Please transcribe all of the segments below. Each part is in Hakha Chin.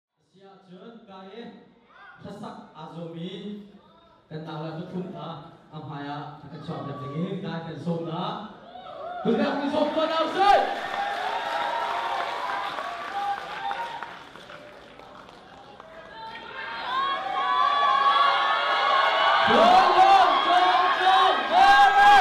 A si ahcun Kain hlasak aa zuam i kan takleh pathum hna a hmaiah a kan chuahpiak ding in Kain nih an sawm hna. Tulnak in sawm tuan hna usih! Tlawm, tlawm, tlawm, Mary!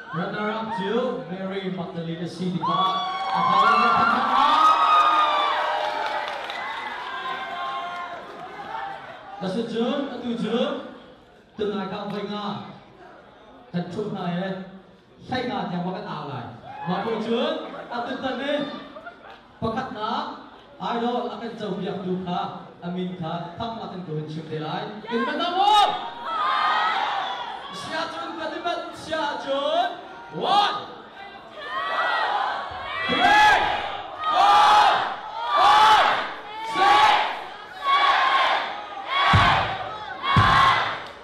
Runner-up cu Mary Magdalene a si tikah a fale nih an thangh hna. Asicun atu cu tunai ka voi nga kan ṭhu hna i hlai nga tiang va kan au lai. Mah bu cun a tutan i Pakhatnak, idol a kan copiaktu kha a min kha thang a kan ko in chim te lai. Kan van nam maw? Sia cun kan i mat sia ahcun one, three, four, five, six,